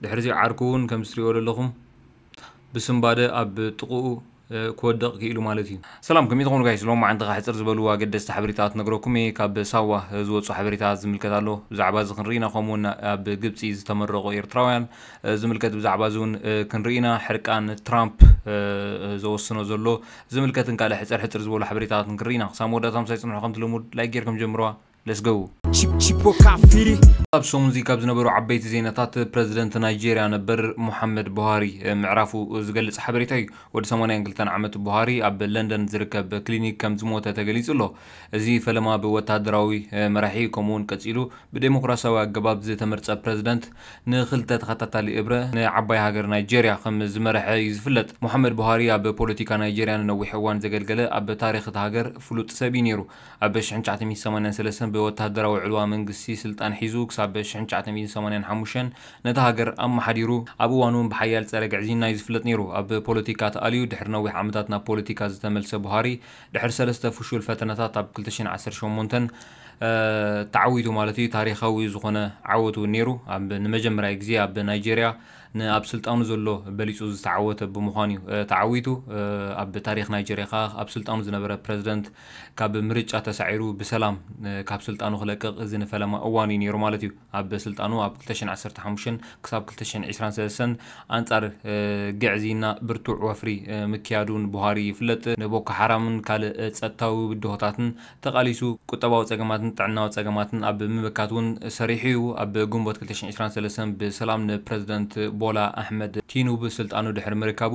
ድሕሪዚ ዓርኩ ውን ከምዚ ትሪእዎ ዘለኹም ብስንባደ ኣብ ጥቅኡ ክወድቅ ኪኢሉ ማለት እዩ። ሰላም ከመይ ትኾኑ ጋይስ ሎማዓንትኻ ሕጽር ዝበሉ ኣገደስቲ ሓበሬታ ክነግረኩም እየ ካብ ሳዋ ዝወጹ ሓበሬታ ዝምልከት ኣሎ ብዛዕባ እዚ ክንርኢ ኢና ከምኡ ውን ኣብ ግብጺ ዝተመረቁ ኤርትራውያን ዝምልከት ብዛዕባ እዚ ውን ክንርኢ ኢና ሕርቃን ትራምፕ ዘወስኖ ዘሎ ዝምልከትን ካልእ ሕጽር ሕጽር ዝበሉ ሓበሬታታትን ክንርኢ ኢና ክሳብ መወዳእታ ምሳይ ጽንሑ ከምቲ ልሙድ ላይክ ጌርኩም ጀምርዋ Let's go! Chipo Kafiri ኣብ ሰሙንዚ ካብ ዝነበሩ ዓበይቲ ዜናታት ፕረዚደንት ናይጀርያ ነበር ሙሓመድ ቡሃሪ ምዕራፉ ዝገልጽ ሓበሬታ እዩ። ወዲ ሰማንያን ክልተን ዓመት ቡሃሪ ኣብ ለንደን ዝርከብ ክሊኒክ ከም ዝሞተ ተገሊጹ ኣሎ። እዚ ፈለማ ብወተሃደራዊ መራሒ ከምኡ'ውን ቀጺሉ ብደሞክራስያዊ ኣገባብ ዝተመርጸ ፕረዚደንት ንኽልተ ተኸታታሊ እብረ ንዓባይ ሃገር ናይጀርያ ከም ዝመርሐ እዩ ዝፍለጥ። ሙሓመድ ቡሃሪ ኣብ ፖለቲካ ናይጀርያ ንነዊሕ እዋን ዘገልገለ ኣብ ታሪኽ እታ ሃገር ፍሉጥ ሰብ እዩ ነይሩ። ኣብ ሽሕን ትሽዓተ ሚእትን ሰማንያን ሰለስተን ብወተሃደራዊ ዕልዋ መንግስቲ ስልጣን ሒዙ ክሳብ ሽሕን ትሽዓተ ሚእትን ሰማንያን ሓሙሽተን ነታ ሃገር ኣመሓዲሩ። ኣብ እዋኑ'ውን ብሓያል ጸረ ግዕዝይና'ዩ ዝፍለጥ ነይሩ። ኣብ ፖለቲካ ተኣልዩ ድሕሪ ነዊሕ ዓመታት ናብ ፖለቲካ ዝተመልሰ ቡሃሪ፣ ድሕሪ ሰለስተ ፍሹል ፈተነታት ኣብ ክልተ ሽሕን ዓሰርተ ሸሞንተን ተዓዊቱ ማለት'ዩ። ታሪኻዊ ዝኾነ ዓወት'ውን ነይሩ። ኣብ ንመጀመርያ ግዜ ኣብ ናይጀርያ ንኣብ ስልጣኑ ዘሎ በሊጹ ዝተዓወተ ብምዃኑ'ዩ ተዓዊቱ። ኣብ ታሪኽ ናይጀርያ ከኣ ኣብ ስልጣኑ ዝነበረ ፕረዚደንት ካብ ምርጫ ተሳዒሩ ብሰላም ካብ ስልጣኑ ክለቅቕ እዚ ንፈለማ እዋኑ እዩ ነይሩ ማለት እዩ። ኣብ ስልጣኑ ኣብ ክልተ ሽሕን ዓሰርተ ሓሙሽተን ክሳብ ክልተ ሽሕን ዕስራን ሰለስተን ኣንጻር ግዕዝይና ብርቱዕ ወፍሪ ምክያዱ ንቡሃሪ ይፍለጥ፣ ንቦኮ ሓራምን ካልእ ጸጥታዊ ብድሆታትን ተቓሊሱ፣ ቁጠባዊ ጸገማትን ጥዕናዊ ጸገማትን ኣብ ምምካት እውን ሰሪሑ እዩ። ኣብ ግንቦት ክልተ ሽሕን ዕስራን ሰለስተን ብሰላም ንፕረዚደንት ቦላ ኣሕመድ ቲኑብ ስልጣኑ ድሕሪ ምርካቡ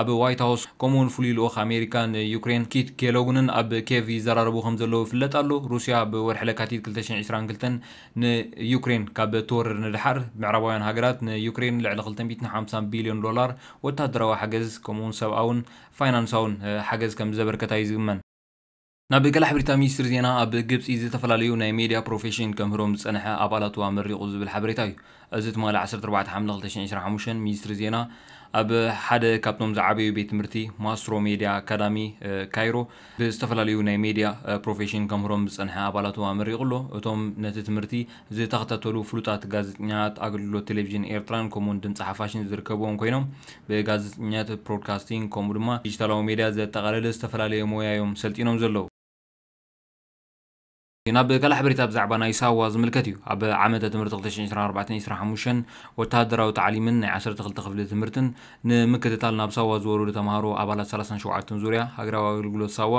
ኣብ ዋይት ሃውስ ከምኡ'ውን ፍሉይ ልኡኽ ኣሜሪካ ንዩክሬን ኪት ኬሎግንን ኣብ ኬቭ ይዘራረቡ ከምዘለዉ ይፍለጥ ኣሎ። ሩስያ ኣብ ወርሒ ለካቲት ክልተ ሽሕን ዕስራን ክልተን ንዩክሬን ካብ እትወርር ንደሓር፣ ምዕራባውያን ሃገራት ንዩክሬን ልዕሊ ክልተ ሚእትን ሓምሳን ቢልዮን ዶላር ወተሃደራዊ ሓገዝ ከምኡ'ውን ሰብኣውን ፋይናንሳውን ሓገዝ ከምዘበርከታ'ዩ ዝግመን። ናብ ቀላሕ ብሪታ ሚኒስትሪ ዜና ኣብ ግብጺ ዝተፈላለዩ ናይ ሜድያ ፕሮፌሽን ከምህሮም ዝጸንሐ ኣባላቱ ኣመሪቑ ዝብል ሓበሬታ እዩ። እዚ ትማሊ ዓሰርተ ኣርባዕተ ሓምለ ክልተ ሽሕን ዕስራን ሓሙሽተን ሚኒስትሪ ዜና ኣብ ሓደ ካብቶም ዝዓበዩ ቤት ትምህርቲ ማስትሮ ሜድያ ኣካዳሚ ካይሮ ብዝተፈላለዩ ናይ ሜድያ ፕሮፌሽን ከምህሮም ዝጸንሐ ኣባላቱ ኣመሪቑ ኣሎ። እቶም ነቲ ትምህርቲ ዝተኸታተሉ ፍሉጣት ጋዜጠኛታት ኣገልግሎት ቴሌቪዥን ኤርትራን ከምኡውን ድምጺ ሓፋሽን ዝርከብዎም ኮይኖም ብጋዜጠኝነት፣ ፕሮድካስቲንግ ከምኡ ድማ ዲጂታላዊ ሜድያ ዘጠቓለለ ዝተፈላለየ ሞያ እዮም ሰልጢኖም ዘለዉ። ናብ ካልእ ሓበሬታ ብዛዕባ ናይ ሳዋ ዝምልከት እዩ። ኣብ ዓመተ ትምህርቲ ክልተ ሽሕን ዕስራን ኣርባዕተን ዕስራን ሓሙሽተን ወተሃደራዊ ታዕሊምን ናይ ዓሰርተ ክልተ ክፍሊ ትምህርትን ንምክትታል ናብ ሳዋ ዝወረዱ ተመሃሮ ኣባላት ሰላሳን ሸውዓተን ዙርያ ሃገራዊ ኣገልግሎት ሳዋ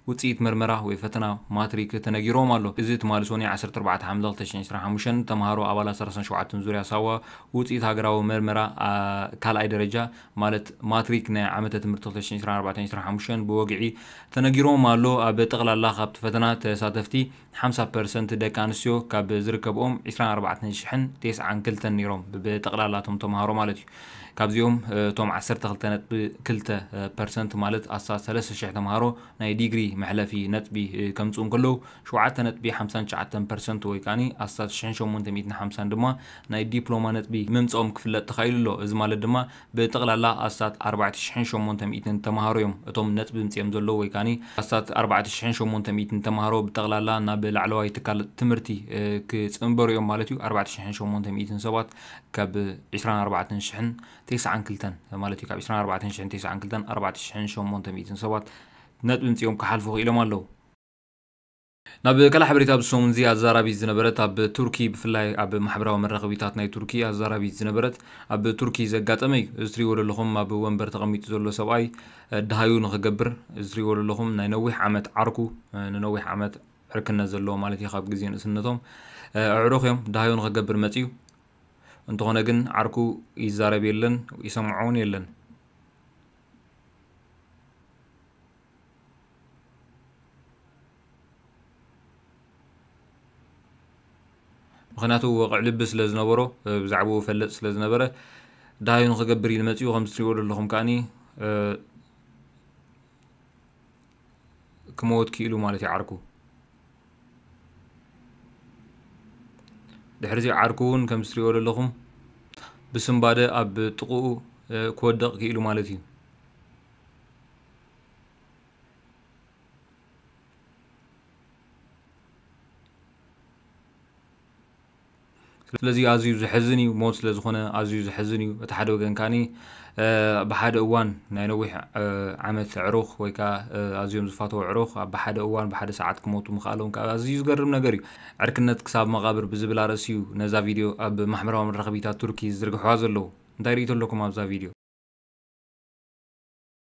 ውጽኢት መርመራ ወይ ፈተና ማትሪክ ተነጊርዎም ኣሎ። እዚ ትማሊ ሶኑይ ዓሰርተ ኣርባዕተ ሓምለ ክልተ ሽሕን ዕስራን ሓሙሽተን ተማሃሮ ኣባላት ሰላሳን ሸውዓተን ዙርያ ሳዋ ውጽኢት ሃገራዊ መርመራ ካልኣይ ደረጃ ማለት ማትሪክ ናይ ዓመተ ትምህርቲ ክልተ ሽሕን ዕስራን ኣርባዕተን ዕስራን ሓሙሽተን ብወግዒ ተነጊርዎም ኣሎ። ኣብ ጠቕላላ ካብቲ ፈተና ተሳተፍቲ። ሓምሳ ፐርሰንት ደቂ ኣንስትዮ ካብ ዝርከብኦም ዕስራን ኣርባዕተን ሽሕን ቴስዓን ክልተን ነይሮም፣ ብጠቕላላ እቶም ተምሃሮ ማለት እዩ። ካብዚኦም እቶም ዓሰርተ ክልተ ነጥቢ ክልተ ፐርሰንት ማለት ኣስታት ሰለስተ ሽሕ ተምሃሮ ናይ ዲግሪ መሕለፊ ነጥቢ ከምጽኡ እንከለዉ፣ ሸውዓተ ነጥቢ ሓምሳን ትሽዓተን ፐርሰንት ወይ ከኣ ኣስታት ሽሕን ሸሞንተ ሚእትን ሓምሳን ድማ ናይ ዲፕሎማ ነጥቢ ምምጽኦም ክፍለጥ ተኻኢሉ ኣሎ። እዚ ማለት ድማ ብጠቕላላ ኣስታት ኣርባዕተ ሽሕን ሸሞንተ ሚእትን ተመሃሮ እዮም እቶም ነጥቢ ምጺኦም ዘለዉ ወይ ከኣ ኣስታት ኣርባዕተ ሽሕን ሸሞንተ ሚእትን ተመሃሮ ብጠቕላላ ናብ ላዕለዋይ ትካል ትምህርቲ ክጽንበሩ እዮም ማለት እዩ ኣርባዕተ ሽሕን ሸሞንተ ሚእትን ሰባት ካብ ዕስራን ኣርባዕተን ሽሕን ተስዓን ክልተን ማለት እዩ ካብ ዕስራን ኣርባዕተን ሽሕን ተስዓን ክልተን ኣርባዕተ ሽሕን ሸሞንተ ሚእትን ሰባት ነጥቢ ምጺኦም ክሓልፉ ክኢሎም ኣለዉ ናብ ካልእ ሓበሬታ ኣብዚ ሰሙን'ዚ ኣዛራቢት ዝነበረት ኣብ ቱርኪ ብፍላይ ኣብ ማሕበራዊ መራኸቢታት ናይ ቱርኪ ኣዛራቢት ዝነበረት ኣብ ቱርኪ ዘጋጠመ እዩ። እዚ ትሪእዎ ዘለኹም ኣብ ወንበር ተቐሚጡ ዘሎ ሰብኣይ ደሃዩ ንኽገብር እዚ ትሪእዎ ዘለኹም ናይ ነዊሕ ዓመት ዓርኩ ንነዊሕ ዓመት ዕርክነት ዘለዎ ማለት እዩ ካብ ግዜ ንእስነቶም ኣዕሩኽ እዮም ደሃዩ ንኽገብር መጺኡ እንተኾነ ግን ዓርኩ ይዛረብ የለን ይሰምዖ እውን የለን። ምኽንያቱ ወቕዕ ልቢ ስለ ዝነበሮ ብዛዕባኡ ፈልጥ ስለ ዝነበረ ዳሃዩ ንክገብር ኢሉ መጺኡ ከም ዝትሪእዎ ዘለኹም ከኣኒ ክመወት ክኢሉ ማለት እዩ ዓርኩ ድሕሪዚ ዓርኩ እውን ከም ዝትሪእዎ ዘለኹም ብስምባደ ኣብ ጥቕኡ ክወደቕ ክኢሉ ማለት እዩ ስለዚ ኣዝዩ ዘሕዝን እዩ ሞት ስለ ዝኾነ ኣዝዩ ዘሕዝን እዩ እቲ ሓደ ወገን ከዓኒ ብሓደ እዋን ናይ ነዊሕ ዓመት ዕሩኽ ወይ ከዓ ኣዝዮም ዝፋተው ዕሩኽ ኣብ ብሓደ እዋን ብሓደ ሰዓት ክሞቱ ምኽኣሎም ከዓ ኣዝዩ ዝገርም ነገር እዩ ዕርክነት ክሳብ መቓብር ብዝብል ኣርእሲ እዩ ነዛ ቪድዮ ኣብ ማሕበራዊ መራኸቢታት ቱርኪ ዝዝርግሕዋ ዘለዉ እንታይ ርእቶ ኣለኩም ኣብዛ ቪድዮ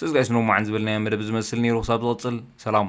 ሰስ ጋይስ ኖማዓን ዝበልናዮ መደብ ዝመስል ኔሩ ክሳብ ዝቅጽል ሰላም።